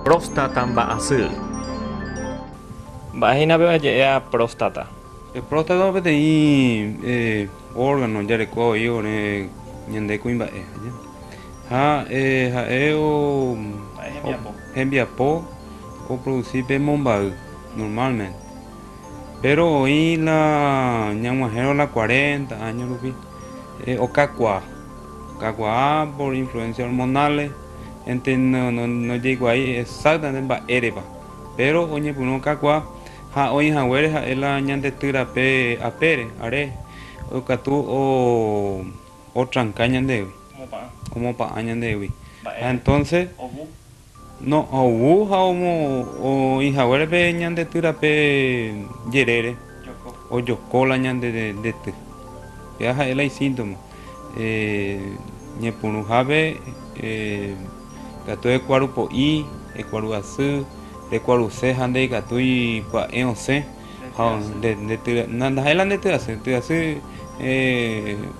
Próstata mba'asy. Mba'ehína pe oje'éva próstata? Próstata peteĩ órgano ojareko voi ore ñande kuimba'e ha ha'e hembiapo oproduci pe momba'i normalmente, péro oĩ la ñag̃uahẽrõ la cuarenta áño rupi okakuaa, okakuaa por influencia hormonales. Ente nojeikuaái exactamente mba'érepa, péro oñepyrũ kakuaa ha oĩ haguére ha'e la ñande ty rape apére, are, okatu otranka ñandegui, omopa'ã ñandegui. Ha entonce no, ovu ha oĩ haguére pe ñande ty rape jerére, ojoko la ñande ty. Péva ha'e la isíntoma. Ñepyrũhápe ikatu ekuaru po'i, ekuaru asy, rekuaruse ha ndaikatúi pya'e osẽ. Ndaha'éi la ndetyasy, tyasy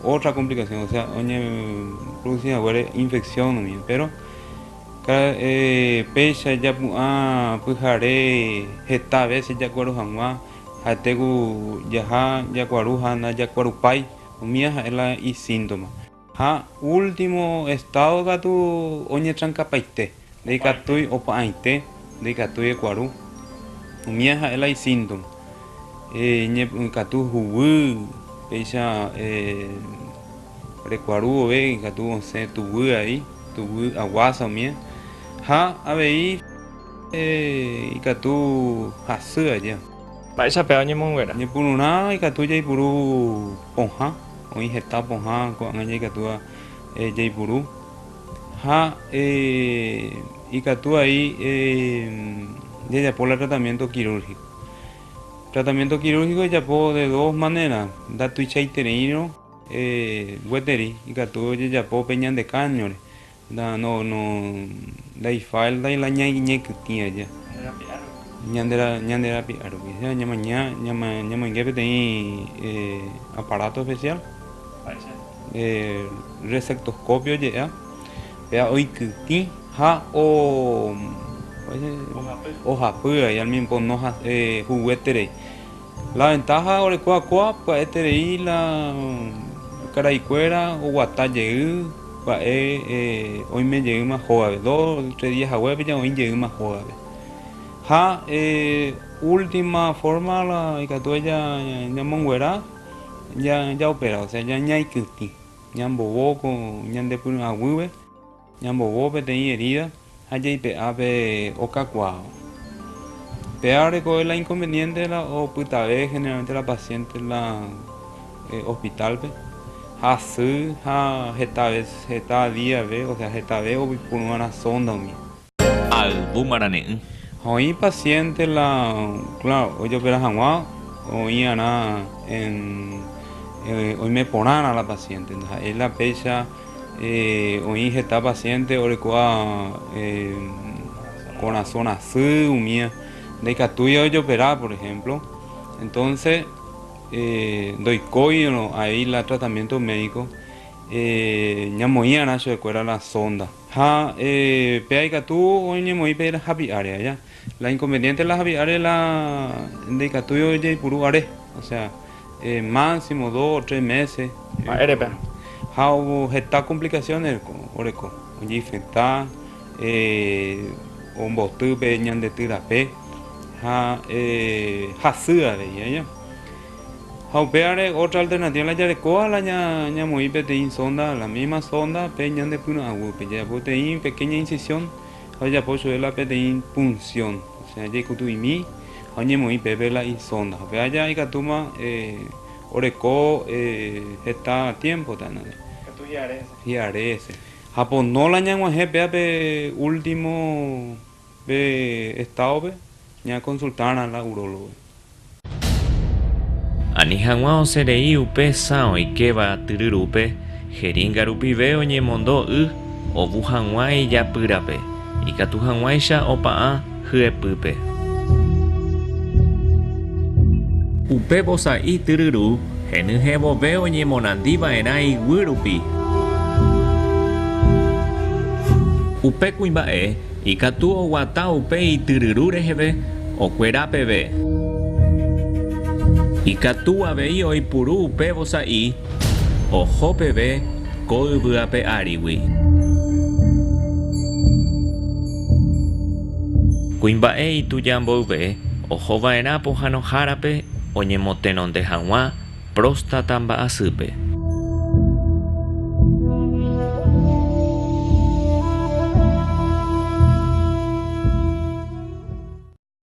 ótra komplikasión, osea oñeprodusi haguére infeksión numíva. Péro péicha japu'ã pyhare heta vése jakueru hag̃ua, ha'ete ku jaha jakuaru ha ndajakuerupái. Umía ha'e la isíntoma. Ha último estado katu oñetrankapaite, ndaikatúi opa'ãite, ndaikatúi ekuaru. Umía ha'e la isíntoma. Ñepy'akatu huguy, péicha rekuaru vove ikatu osẽ tuguy ai, tuguy aguása umía. Ha avei ikatu hasy aja. Mba'éicha péva oñemonguera? Ñepyrũrã ikatu jaipuru pohã, oĩ heta pohã ko'ág̃a jaikatúva jaipuru ha ikatu vai jajapo la tratamiento kirúrgiko. Tratamiento kirúrgiko ojapo de dos manera, ndatuichaitereírõ gueteri ikatu ojejapo pe ñande káñore, Nda, no, no, ndaifaltai la ña iñekytĩ aja. Ñande rapi'a rupi. Ñande ra, ñande rapi'a rupi. Osea, ñamaña, ñama, ñamoinge peteĩ eh, aparato especial, Mba'éicha. eh, resectoscopio oje'éva, péva oikytĩ ha o, mba'éicha, Ohapy. ohapy vai al mismo tiempo noha, eh, huguéterei. La ventaja orekóva kóva, pya'eterei la karaikuéra oguata jey, Mba'e oime jeýma hógape, dos, tres día hague apeja oĩ jeýma hógape. Ha última forma ikatu ñamonguera ñaopera, osea ñaikytĩ, ñambovo ñande py'aguýpe, ñambovo peteĩ herida Ha jaipe'a pe okakuaa. Péva rekove la inconveniente la opytave generalmente la paciente la hospital-pe, ha asy ha heta vez, heta día-pe, osea hetave oipuru va'erã sonda umi. Ha yvy marane'ỹ. Ha oĩ paciente la, claro, ojopera hag̃ua oĩ'arã en oime porãrã la paciente, ndaha'éi la péicha. Oĩ heta pasiénte orekuaa korasõ rasy umi ndaikatúi ojopera, por ehémplo, entónse ndoikóirõ avei tratamiénto médiko ñamoĩva'erã chuekuéra la sónda. Ha pe aikatu oñemoĩ pe hapi'áre aja. La inconveniente de la javi'are la ndaikatúi ojeipuru are, osea, máximo dos o tres meses. Mba'érepa? Ha heta complicaciones oreko, ojeinfecta, omboty pe ñandetyy rape ha hasy avei, aña. Ha upévare otra alternativa la jarekóva la ñamoĩ peteĩ sonda, la misma sonda pe ñande pyrõ aguýpe, jajapo peteĩ pequeña incisión. ha ojapo chupe la peteĩ punción, osea jaikutu'imi ha oñemoĩ pépe la isonda, ha pe aja ikatúma oreko heta tiempo tenonde, hi'are hese, ha pono la ñag̃uahẽ péva pe último pe estado-pe ña consultarã la urólogo. Ani hag̃ua osẽ rei upe sã oikéva tyry rúpe, heríga rupive oñemondo y ovu hag̃ua ijapýrape, ikatu hag̃uáicha opa'ã hyepýpe. Upe vosa'i tyry ru henyhẽ vove oñemorandi va'erã iguy rupi. Upe kuimba'e Ikatu oguata upe ityryru reheve okuera peve. Ikatu avei oipuru upe vosa'i oho peve ko yvy ape árigui. Kuimba'e ituja mboyve oho vaerã pohanohárape oñemotenonde haguã próstata mba'asýpe.